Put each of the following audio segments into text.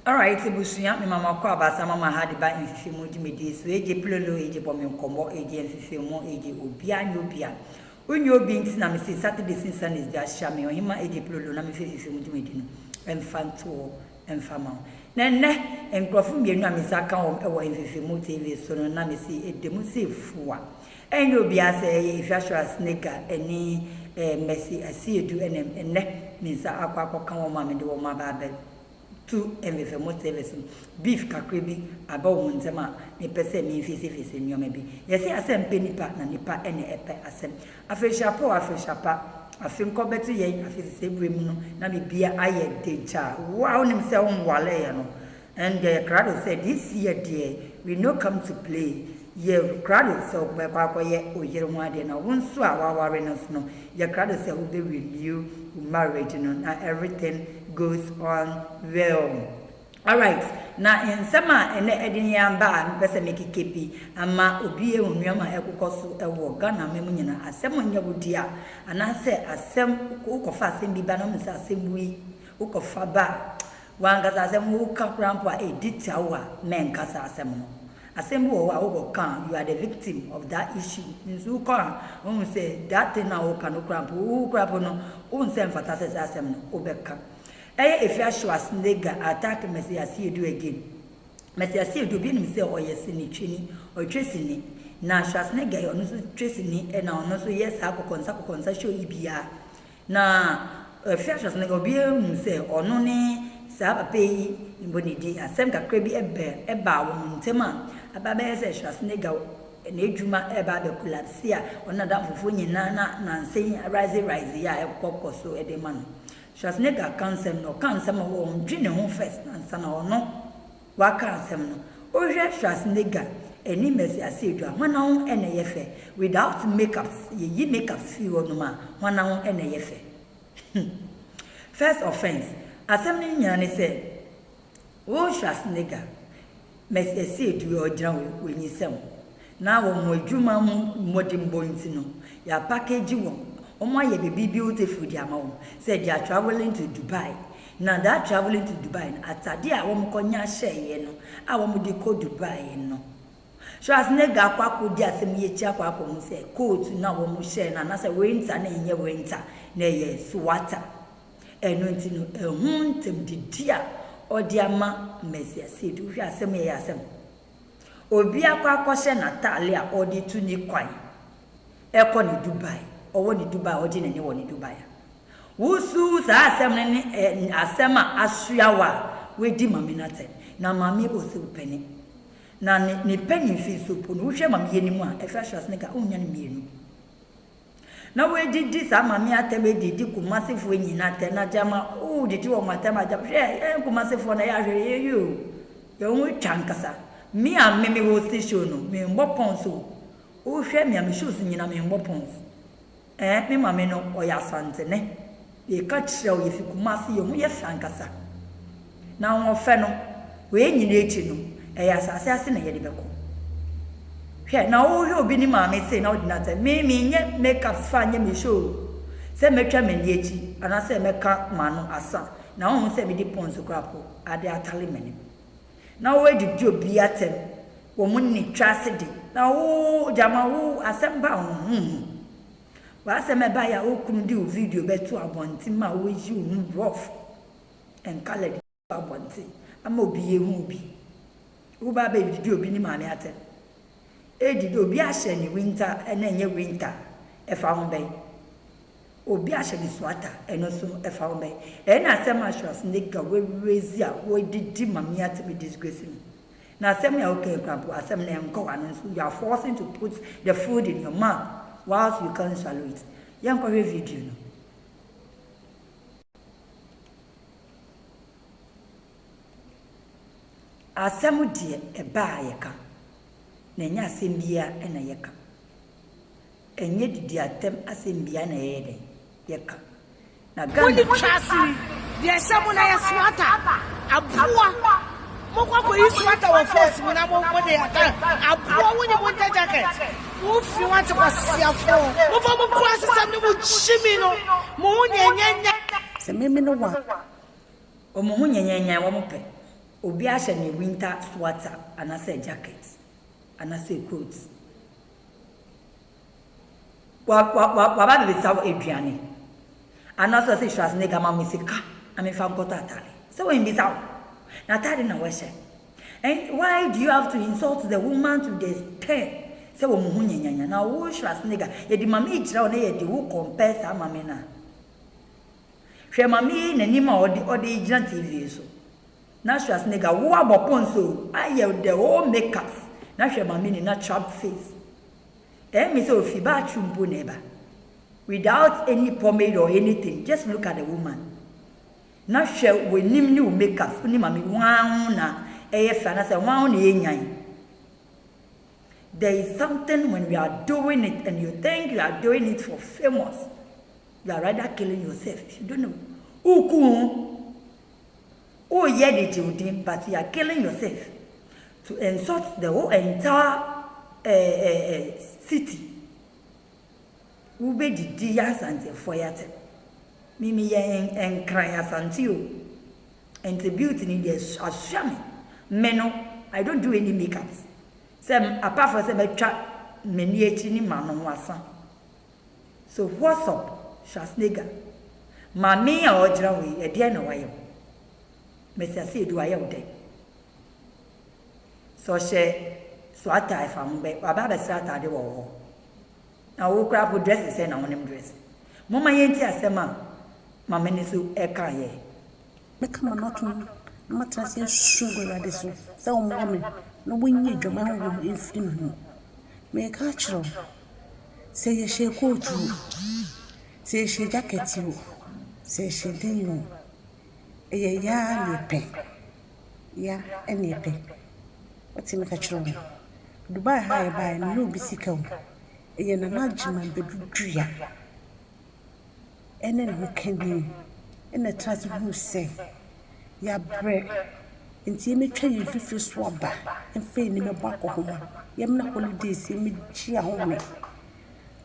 Alright ebusua me mama kɔ abasa mama ha de ba nsesemu dwumadie so agye plolo agye bɔ me nkɔmɔ agye nsesemu agye obia nye obia wo nye obi nti na me se Saturdays ne Sundays bia hyia me ɔhema agye plolo na me fɛ nsesemu dwumadi no mfa ntoɔ mfa ma wo na ɛnɛ nkurɔfo mmienu a me nsa ka wɔn wɔ nsesemu TV so no na me se ɛdemu se fua Ɛnyɛ obiara sɛ ɛyɛ Efiasora Sneka ne Mercy Asiedu na nnɛ me nsa akɔ akɔka wɔn ma mede wɔn aba abɛto mfefamu service no. Beef kakra bi aba wɔn ntam a mepɛ sɛ mimfeesefeese nneɛma bi. Yɛse asɛm pɛ nipa na nipa na ɛpɛ asɛm. Afenhyira pa o afenhyira pa, afe nkɔ bɛto yɛn afesesɛe berɛ mu no na biribiara ayɛ degyaa. Wo a wonim sɛ wonwareeɛ no, Ɛnde yɛ krado sɛ this year deɛ we no come to play, yɛ krado sɛ wobɛkɔ akɔyɛ wo yere ho adeɛ na wo nso a woaware no nso no yɛ krado sɛ wobɛ renew wo marriage no na everything goes on well. Alright, na nsɛm a ɛnɛ ɛde yɛn aba a mepɛ sɛ mekeka bi ama obi ahu nnoɔma a ɛkokɔ so wɔ Ghana aman mu nyinaa, asɛm nyɛ wo dea anaasɛ asɛm wokɔfa asɛm bi ba na wohu sɛ asɛm woi wokɔfa ba a W'ankasa asɛm no, woka koraa mpo a, edi tia wo a mɛnkasa asɛm no. Asɛm bi wɔ hɔ a wokɔ ka a, you are the victim of that issue. Nso wokɔ a, wohu sɛ that thing no a woka no koraa mpo, wo koraa mpo no, wohu sɛ ɛmfata sɛ saa asɛm no wobɛka. Ɛyɛ Efia Schwarzenegger attack Messiah Seidu again. Messiah Seidu, obi nim sɛ ɔyɛ sinitwani, ɔtwe sini. Na Schwarzenegger, ɔno nso twe sini na ɔno nso yɛ saa kɔkɔnsa kɔkɔnsa show yi biara. Na efi ahyɛse no, obiara hu sɛ ɔno ne saa papa yi bɔ ne din. Asɛm kakra bi bɛ, baa wɔn ntam a, aba abɛyɛ sɛ Schwarzenegger n'adwuma reba abɛ collapse a, ɔne n'adamfofoɔ nyinaa na nansa yi risey risey a ɛkɔ kɔ so de ma no. Schwarzenegger ka nsɛm no, ɔka nsɛm a ɔndwe ne ho first ansa na ɔno Wɔaka asɛm no. Wohwɛ Schwarzenegger ɛne Mercy Assedu a hwana ho na ɛyɛ fɛ? Without makeups, yɛyi makeups firi hɔ nom a hwana ho na ɛyɛ fɛ? Hum. First offence, asɛm no nyinaa ne sɛ wo Schwarzenegger, Mercy Assedu a ɔgyina hɔ yi, wanyinsɛn wo. Na wɔn adwuma mu mmɔdenbɔ nti no, yɛapakegyi wɔn, wɔayɛ biribi beautiful de ama wɔn sɛ they are travelling to Dubai. Na that travelling to Dubai no, atadeɛ a wɔkɔnya hyɛeɛ no a wɔde kɔ Dubai no, Schwarzenegger akɔ akɔdi asɛm yi akyi akɔ akɔhu sɛ coat no a wɔhyɛɛ no anaasɛ winter no nyɛ winter, na ɛyɛ sweater. Ɛno nti no, ɛho ntam didi a ɔde ama Messiah Seed, wohwɛ asɛm yi a ɛyɛ asɛm. Obi akɔ akɔhyɛ n'atade a ɔde tu ne kwan kɔ ne Dubai, ɔwɔ ne Dubai a ɔgye n'ani wɔ ne Dubai a. Wosuw saa asɛm no ne ɛ asɛm a asoa wo a woadi Maame no atɛn. Na Maame osiw pene. Na ne ne pene mfinso mpo no, wohwɛ ma me yɛ no mu a, ɛhwɛ ahwɛ ase no nka onnya no mmienu. Na woedidi saa ma me atam edidi Kumasefoɔ nyina atam na gyama ooh didi wɔn atam a gyama hwɛ yɛn Kumasefoɔ na yɛ ahwɛ yɛ yie oo yɛn ho twa ankasa me a me me hosti show no me mbɔ pons oo wo hwɛ me a me shows nyina me mbɔ pons ɛɛ me mame no ɔyɛ Asantene. Yɛka kyerɛ wo yɛfi Kumasi yɛn ho yɛ fɛ ankasa na ahoɔfɛ no wei nyina akyi no ɛyɛ asase ase na yɛde bɛkɔ hwɛ na wohwɛ obi ne maame sei na wode no atɛ me menyɛ makeups fa nyɛ me show sɛ mɛtwa m'ani akyi anaasɛ mɛka m'ano asa na wohu sɛ mede pɔnso koraa po ade atale m'anim na woadidi obi atɛm wɔn nni twa ase de na wo gyama wo asɛm ba wo ho W'asɛm a ɛbae a wo kunu de wo video bɛto abɔnten ma woyi wo ho borɔfo and colored ato abɔnten ama obi ahu wo bi. Woreba abɛdidi obi ne maame atɛm. Edi dɛ obi ahyɛ ne winter na ɛnyɛ winter a, ɛfa ho bɛn? Obi ahyɛ ne sweater, ɛno nso ɛfa ho bɛn? Ɛyɛ na asɛm assurance ne ga w'awiredzi a wodidi maame atɛm disgrace no. Na asɛm no a woka yi koraa mpo, asɛm no nkɔ w'ano nso, you are forcing to put the food in your mouth whilst you can't swallow it. Yɛnkɔhwɛ video no. Asɛm deɛ ɛba a yɛka, na ɛnyɛ asɛm biara na yɛka. Ɛnyɛ didi atɛm asɛm biaa na yɛyɛ dɛn yɛka na Ghana. Mode twa sini deɛ ɛhyɛ mo na yɛ sweater aboa mokɔ akɔyi sweater wɔ force mu na mode aka aboa wonye winter jacket wo fi wate kwasiafoɔ mofa mo kurasesɛm ne mo gyimi no mo ho nyɛnyɛnyɛ. Sɛ memene wo a. Wɔn ho nyɛnyɛnyan wɔn pɛ obi ahyɛ ne winter sweater anasɛ jacket anasɛ coat Wa wa wa waba abɛbisa wo aduane anaasɛ ɔsɛ Schwarzenegger ma me sika na memfa nkɔtɔ atade sɛ wambisa wo na atade na wɔhyɛ and why do you have to insult the woman to the extent sɛ wɔn ho nyanyanya na wo Schwarzenegger yɛde ma me kyerɛ wo na yɛde wo compare saa ma me na hwɛ ma me n'anim a ɔde ɔde gyina TV so. Na Schwarzenegger wo abɔ pons o ayɛ the whole make up na hwɛ maame ni na trapped face eh me sɛ ofi bathroom mpo na ɛba without any pomade or anything just look at the woman na hwɛ w'anim ne wo make up woni maame hwan ho na ɛyɛ fɛ anasɛ hwan ho na ɛyɛ nyan there is something when you are doing it and you think you are doing it for famous you are rather killing yourself if you don't know uku ho Woyɛ de gye wo din but you are killing yourself to insult the whole entire eh, eh, eh, city. Wobɛdidi yɛ asantefoɔ yɛate. Mimi yɛ nkran asante o. Nti beauty ni deɛ asua me. Me no, I don't do any makeups. Sɛ apart from sɛ mɛtwa m'ani akyi ne m'ano ho asa. So what's up Schwarzenegger Maame yi a ɔgyina hɔ yi ɛdeɛn na wayɛ wo? Masiase Edu wayɛ wo dɛn? Sɛ ɔhyɛ so atae fa ho bɛ waba abɛsrɛ ataade wɔ wo hɔ na wo koraa po dress sɛn na wonim dress? Momma yɛnti asɛm a Maame no nso ɛka yɛ Mɛka m'ano atom na matena ase asusu agu Awurade so sɛ ɔmmoa me na ɔnyi adwaman honhom no mfiri me mu. Mereka akyerɛ wo, sɛ yɛhyɛ kootu o, sɛ yɛhyɛ gyakɛt o, sɛ yɛhyɛ den o, ɛyɛ yɛ ara na yɛpɛ, yɛ ara na yɛpɛ. Wote me ka kyerɛ wo no. Dubai ha a yɛbaeɛ no, menni obi sika o, ɛyɛ Nana Gyimah Badu dua. ne ne ho ka bi na ɛtra ase hu sɛ yɛabrɛ nti yɛmɛtwa yɛn mfifiri so aba mfa yɛn ani mɛbɔ akɔnhoma, yɛmena holidays yɛmɛgye ahome.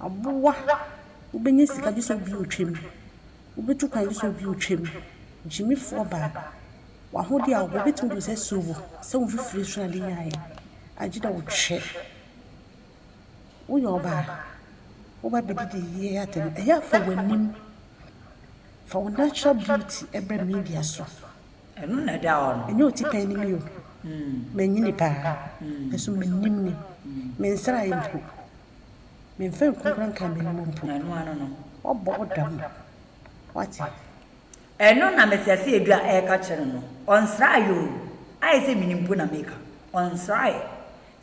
Aboa, wobɛnya sika gye sɛ obi retwam, wobɛtu kwan gye sɛ obi retwam. Gyimifoɔ baa, w'ahodeɛ a wowɔ wobɛtumi de wo nsa asi wo bo sɛ wo mfifiri so na wode nyaeɛ agye dɛ wotwɛ. woyɛ ɔbaa, woba abɛdidi ayie atɛm a, ɛyɛ a fa w'anim, fa wo natural beauty brɛ media so. Ɛno na ɛda hɔ no. Ɛnyɛ otipɛn ne me o, manyini paa, nanso m'anim ni, mensraeɛ mpo, memfa nkunkura nkaa m'anim mpo. Ɛno ano no. Wabɔ wo dam, wate. Ɛno na Mesiase Edu a ɛreka kyerɛ no no. Ɔnsraeɛ o, ayɛ sɛ menim mpo na meka, ɔnsraeɛ.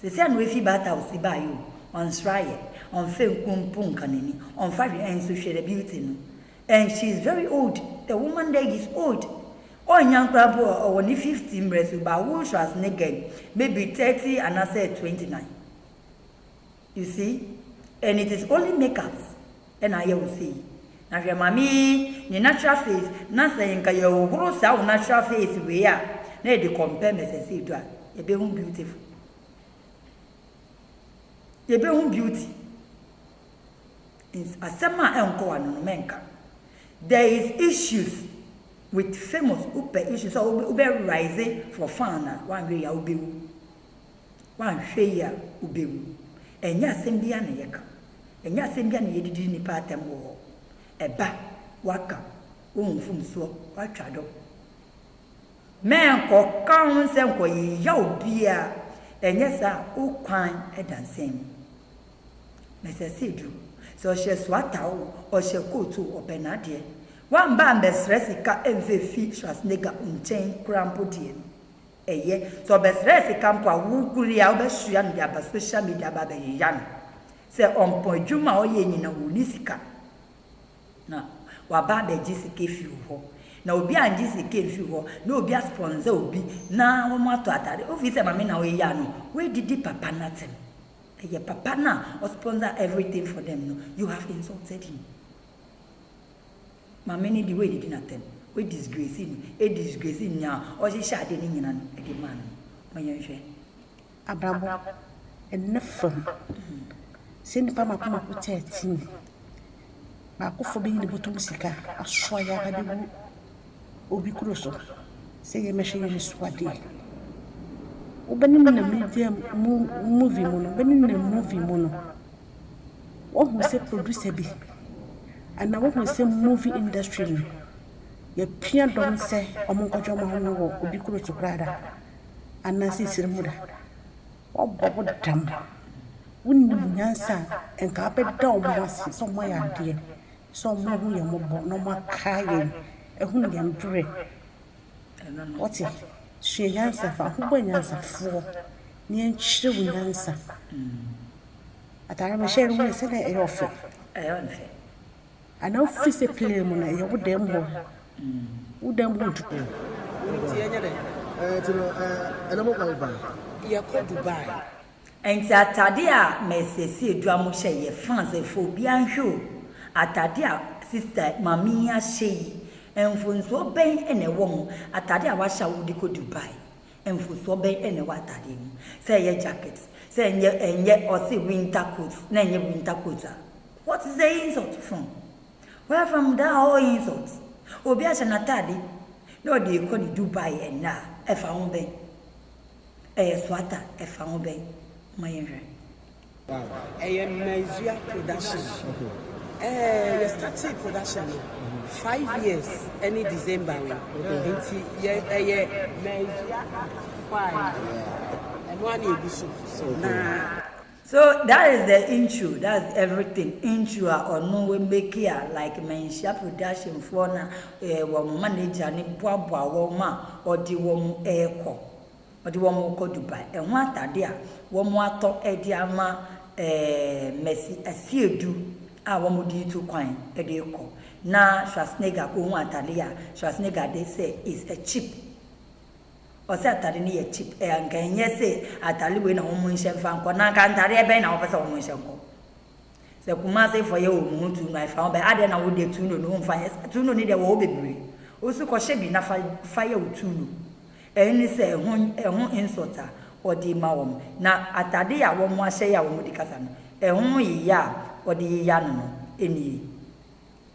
Sesei na oefi baata a ɔsii bae o, ɔnnsera yɛ, ɔmmfa enku mpo nnka n'enyi, ɔmmfa hwee nnso hwɛ the beauty no. And she is very old, the woman there is old. Ɔnnyɛ ankoraa mpo a, ɔwɔ ne fifty mberɛ so, but wo so as ne girl, maybe thirty anaasɛ twenty nine. You see? And it is only makeups na ayɛ wo sei. Na hwɛ maame yi ne natural face na sɛ nka yɛhohoro saa wo natural face wei a na yɛde compare Mrs Adu a yɛbɛhu beautiful. Yɛbɛhu beauty. Asɛm a ɛnkɔ w'ano no mɛnka. There is issues with famous wopɛ issues a wobɛ rise for fun a wanhwɛ yi a wobɛwu. Woanhwɛ yie a wobɛwu. Ɛnyɛ asɛm bi ara na yɛka. Ɛnyɛ asɛm bi ara na yɛde didi nnipa atɛm wɔ hɔ. Ɛba, woaka, wohu mfomsoɔ, woatwa do. Menkɔka ho sɛ nkɔyeya obiara, ɛnyɛ saa a, wo kwan da nsɛm mu. Mɛsɛ sɛ ɛduru sɛ ɔhyɛ sweater oo, ɔhyɛ coat oo, ɔpɛ n'adeɛ. Woamba ammɛsrɛ sika mmfa mfi Schwarzenegger nkyɛn koraa mpo deɛ no, ɛyɛ. Sɛ ɔbɛsrɛɛ sika mpo a, wo koro yi a wobɛsoa no de aba social media aba abɛyeya no. Sɛ ɔmpɔn adwuma a ɔyɛ nyina a ɔnni sika na waba abɛgye sika afi wo hɔ. Na obi angye sika amfiri hɔ na obi aspɔnsa obi na wɔatɔ atade, wofiri sɛ Maame na woyɛ a no woadidi papa no atem. Ɛyɛ papa no a ɔspɔnsa everything for them no, you have insulted him. Maame no de wei didi n'atam. Wei disgrace no. E disgrace nea ɔhyehyɛ ade no nyina no de maa no no. Ma yɛnhwɛ. Abrabɔ, ɛnnɛ fam. Sɛ nnipa mako mako te a team bi baakofoɔ bɛyi ne bɔtɔ mu sika asoa yɛ aba bɛgu obi kuro so sɛ yɛ mmɛhwɛ yɛn asuadeɛ. Wobɛne nam media mu movie mu no, wobɛne nam movie mu no. Woahu sɛ producer bi anaa woahu sɛ movie industry no yɛpia dɔm sɛ ɔmo nkɔgye ɔmo ahome wɔ obi kuro so koraa da? Anaa sɛ esiri mo da? Woabɔ wo dam. Wonim nyansa a nka abɛda ɔmo ase sɛ ɔmo ayɛ adeɛ, sɛ ɔmo ahu yɛn mmɔbɔ na ɔmo akae yɛn, ahunu yɛn brɛ, Wote? Sua nyansa fa ho. Bɔ anyansafoɔ na yɛnkyerɛ wo nyansa. Ataare mehyɛ no, woyɛ sɛdeɛ ɛyɛ ɔfɛ. Anaa wofiri sɛ plane mu na ɛyɛ wo dɛm hɔ. Wo dɛm hɔ ntu o. Ɛno nti yɛnyɛ dɛn? Ɛɛ, nti no, ɛɛ, ɛnɛ mokɔ he paa? Yɛkɔ Dubai. Enti atade a mɛsiesie dwa mo hyɛ yɛ fã sɛ fɔ obiara nhwɛ o atade a sister maame yi ahyɛ yi mfonsoɔ bɛn na ɛwɔ ho atade a wahyɛ a wode kɔ Dubai mfosoɔ bɛn na ɛwɔ atadeɛ no mu sɛ ɛyɛ jacket sɛ ɛnyɛ ɛnyɛ ɔse winter coat na ɛnyɛ winter coat a what is the insult from where from that whole insult obi ahyɛ n'atade na ɔde rekɔ ne Dubai ɛnna a ɛfa ho bɛn. Ɛyɛ Soata ɛfa ho bɛn? Momma yɛnhwɛ. Ɛyɛ Maizua production ɛɛ yɛ startee production no five years ɛne December wei nti yɛ ɛyɛ Maizua act five ɛno ara na ɛgu so na. So that is the intro that's everything intro a ɔno wɔ make a like manhyia production foɔ na eh, wɔn manager ne boaboa wɔn a ɔde wɔn ɛɛkɔ ɔde wɔn kɔ Dubai ɛho atade a wɔn atɔ ɛde ama eh, Mercy Asiedu a wɔn de tu kwan ɛde kɔ na Schwarzenegger kɔ hu atade a Schwarzenegger de sɛ is a cheap Ɔse atade no yɛ cheap ɛ anka ɛnyɛ se atare wei na wɔn nhyɛ nfa nkɔ na anka ntareɛ bɛn na wɔpɛ sɛ wɔn nhyɛ nkɔ sɛ Kumasi fɔ yɛ wɔn ho tuuno a ɛfa ho bɛn adeɛ na wo deɛ tuuno no nfa nyɛ saa tuuno no deɛ wɔ hɔ bebree osi kɔhyɛ bi na fa fa yɛ wo tuuno ɛne sɛ ɛho ɛho insult a ɔde ma wɔn na atade a wɔn ahyɛ yɛ a wɔn de kasa no ɛho yeyɛ a ɔde yeyɛ ano no ɛnie.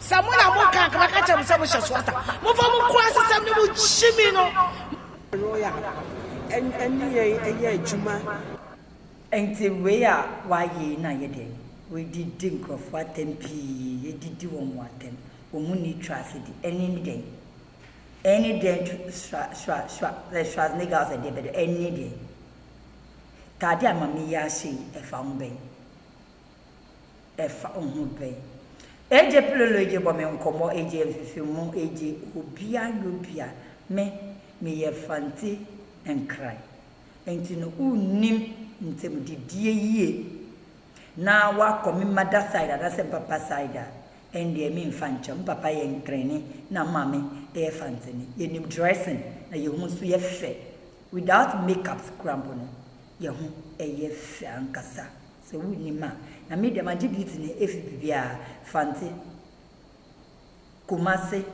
Sɛ mo na mo ka, anka mɛka akyerɛ mo sɛ mo hyɛ swatter. Momfa mo nkurasesɛm ne mo gyimi no. Royal ɛne yɛn yɛ adwuma. Nti wei a w'ayɛ yi na yɛ deɛn? W'adidi nkurɔfoɔ atɛm pii, adidi wɔn mo atɛm, wɔn mo nni trust di, ɛne ne deɛn? Ɛne deɛn tw sra sra sra sɛ Schwarzenegger sɛ deɛ bɛdɛ, ɛne deɛn? Taade a Mame yi ahyɛ yi ɛfa ho bɛn? ɛfa ho pɛn. Agye plolo agye bɔ me nkɔmɔ agye mfefe mu agye obia nyɛ obia me me yɛ fante nkran nti no wo nnim ntem didie yie na wakɔ me mother side anasɛ me papa side a ɛndeɛ me nfa nkyɛ me papa yɛ nkrani na me maame yɛ fanteni yɛ nim dressing na yɛ ho nso yɛ fɛ without makeups kura mpo no yɛ ho yɛ fɛ ankasa Sɛ wonnim a, na me deɛ magye duty no ɛfiri biribiara, Fante, Kumasi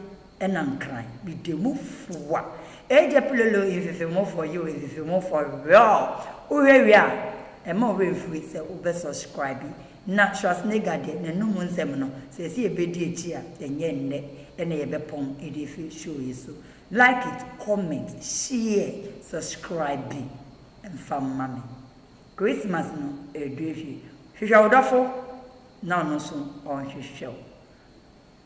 ɛna Nkran, meda mu fua. Agya Pilolo Mfefemufoɔ yoo Mfefemufoɔ yoo, wohwɛ wie a ɛmma wo werɛ mfiri sɛ wobɛ subscribe, na Schwarzenegger deɛ n'anum nsɛm no sɛ ɛsɛ yɛbɛdi akyi a ɛnyɛ nnɛ na yɛbɛpɔn de afiri show yi so. Like it, comment, share, subscribe bi mfa mma me. Christmas no redu afie. Hwehwɛ wo dɔfo na ɔno nso ɔnhwehwɛ wo.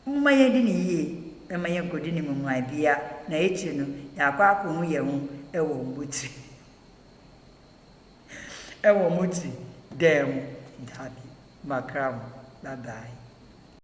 Momma yɛndi no yie mma yɛnkɔdi no mmuae biara na akyire no yɛakɔ akɔhu yɛn ho wɔ mmotiri wɔ mmotiri dan mu. Dabi, makra mo. Bye bye.